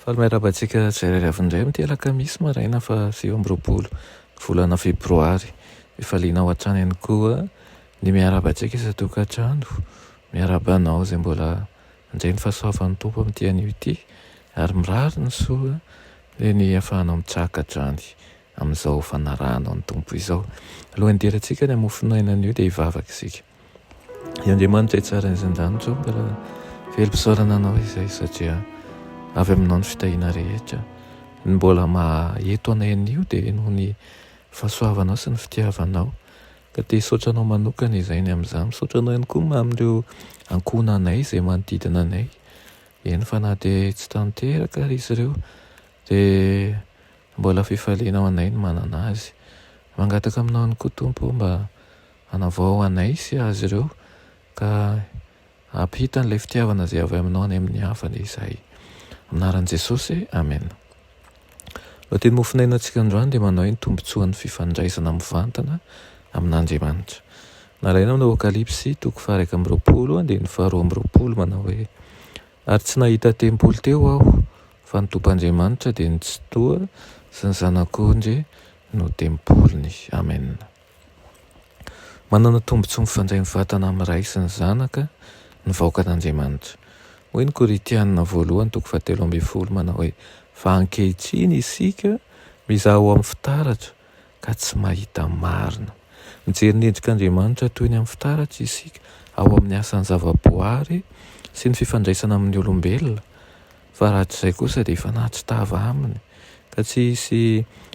Faly miarahaba antsika tsirairay avy indray amin'ity alakamisy maraina faha sivy amby roapolo ny volana febroary. Mifaliana ao hatrany ihany koa ny miarahaba antsika isan-tokantrano. Miarahaba anao izay mbola handray ny fahasoavan'ny Tompo amin'ity anio ity ary mirary ny soa dia ny ahafahanao mitsaka hatrany amin'izao fanarahanao ny Tompo izao. Alohan'ny hidirantsika ny hamofon'aina anio dia hivavaka isika. I Andriamanitra hitsara ny zan-danitro ka raha velom-pisaorana anao izay satria avy aminao ny fitahiana rehetra. Ny mbola maheto anay anio dia noho ny fahasoavanao sy ny fitiavanao ka te hisaotra anao manokana izay ny amin'izany. Misaotra anao ihany koa amin'ireo ankohonanay izay manodidina anay, eny fa na dia tsy tanteraka ary izy ireo dia mbola fifaliana ho anay ny manana azy. Mangataka aminao ihany koa Tompo mba Hanavao anay sy azy ireo ka hampita an'ilay fitiavana izay avy aminao any amin'ny hafa anie izahay. Amin'ny anaran'i Jesosy, amena. Lohatenim-mofonaina antsika androany dia manao hoe ny tombontsoan'ny fifandraisana mivantana amin'Andriamanitra. Nalaina amin'ny Aokalypsy toko faha-iraika amby roapolo andininy faharoa amby roapolo manao hoe, Ary tsy nahita tempoly teo aho, fa ny Tompoandriamanitra dia ny Tsitoha sy ny Zanak'ondry no tempoliny. Amena. Manana tombontsoa mifandray mivatana amin'ny Ray sy ny Zanaka ny vahoakan'Andriamanitra. Hoy ny Korintiana voalohany toko fahatelo ambin'ny folo manao hoe, Fa ankehitriny isika mizaha ho amin'ny fitaratra ka tsy mahita marina. Mijery ny endrik'Andriamanitra toy ny amin'ny fitaratra isika ao amin'ny asan'ny zavaboary sy ny fifandraisana amin'ny olombelona, Fa raha tsy izay kosa dia efa nahatsitava aminy ka tsy hisy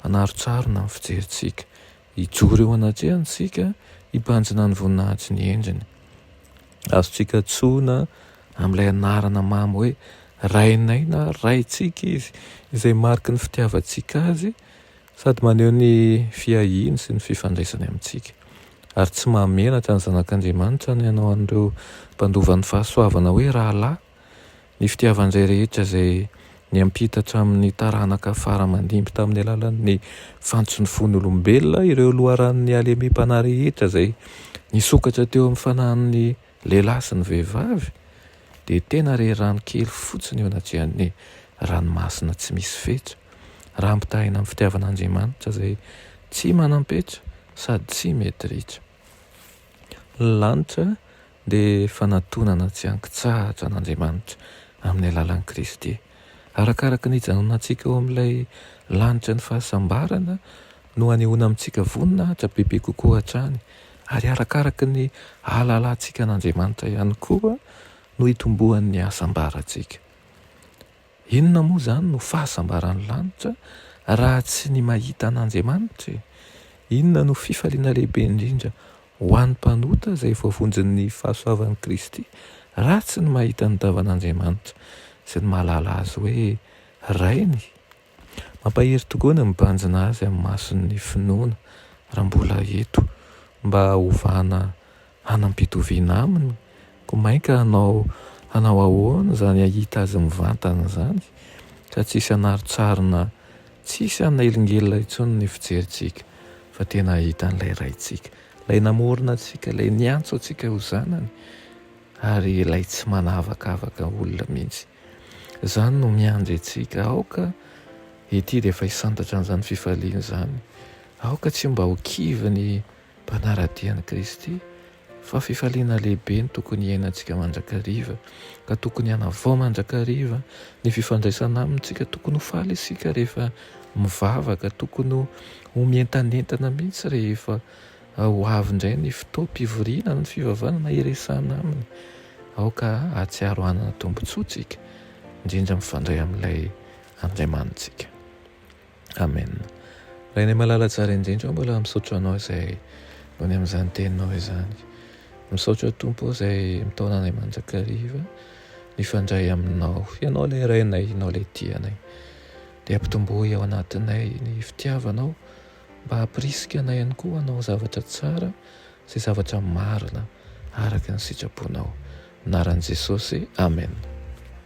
hanarontsarona ny fijerintsika. Hijoro eo anatrehany isika hibanjina ny voninahitsy ny endriny. Azontsika antsoina amin'ilay anarana mamy hoe Rainay na Raintsika izy, izay mariky ny fitiavantsika azy sady maneho ny fiahiany sy ny fifandraisany amintsika. Ary tsy mahamenatra ny Zanak'Andriamanitra ny hanao an'ireo mpandova ny fahasoavana hoe rahalahy. Ny fitiavan'izay rehetra izay niampita hatramin'ny taranaka fara aman-dimby tamin'ny alalan'ny fantson'ny fon'ny olombelona ireo loharanon'ny halemem-panahy rehetra izay nisokatra teo amin'ny fanahin'ny lehilahy sy ny vehivavy dia tena re rano kely fotsiny eo anatrihan'ny ranomasina tsy misy fetra raha ampitahaina amin'ny fitiavan'Andriamanitra izay tsy manam-petra sady tsy mety ritra. Ny lanitra dia fanatonana tsy an-kitsahatra an'Andriamanitra amin'ny alalan'i Kristy. Arakaraka ny hijanonantsika eo amin'ilay lanitra ny fahasambarana no hanehoana amintsika voninahitra bebe kokoa hatrany, ary arakaraka ny hahalalantsika an'Andriamanitra ihany koa no hitomboan'ny hasambarantsika. Inona moa izany no fahasambaran'ny lanitra raha tsy ny mahita an'Andriamanitra e? Inona no fifaliana lehibe indrindra ho an'ny mpanota izay voavonjin'ny fahasoavan'i Kristy raha tsy ny mahita ny tavan'Andriamanitra sy ny mahalala Azy hoe Rainy? Mampahery tokoa ny mibanjina Azy amin'ny mason'ny finoana raha mbola eto mba hovana hanam-pitoviana aminy, koa mainka hanao hanao ahoana izany hahita azy mivantana izany ka tsisy hanaro-tsarona, tsisy hanelingelina intsony ny fijerintsika fa tena hahita an'ilay Raintsika, ilay namorona antsika, ilay niantso antsika ho zanany ary ilay tsy manavakavaka olona mihitsy. Izany no miandry antsika, aoka ity dia efa hisantatra an'izany fifaliana izany, aoka tsy mba ho kivy ny Mpanara-dia an'i Kristy, fa fifaliana lehibe no tokony hiainantsika mandrakariva, ka tokony hanavao mandrakariva ny fifandraisana amintsika. Tokony ho faly isika rehefa mivavaka, tokony ho mientanentana mihitsy rehefa ho avy indray ny fotoam-pivoriana amin'ny fivavahana na hiresahana aminy. Aoka hahatsiaro hanana tombontsoa isika, indrindra mifandray amin'ilay Andriamanitsika. Amen. Rainay malala tsara indrindra aho mbola misaotra anao izay noho ny amin'izany teninao izany. Misaotra tompo aho izay mitaona anay mandrakariva mifandray aminao. Ianao ilay rainay, ianao ilay tia anay. Dia ampitomboy ao anatinay ny fitiavanao mba hampirisika anay ihany koa hanao zavatra tsara sy zavatra marina araka ny sitraponao. Anaran'i Jesosy. Amen.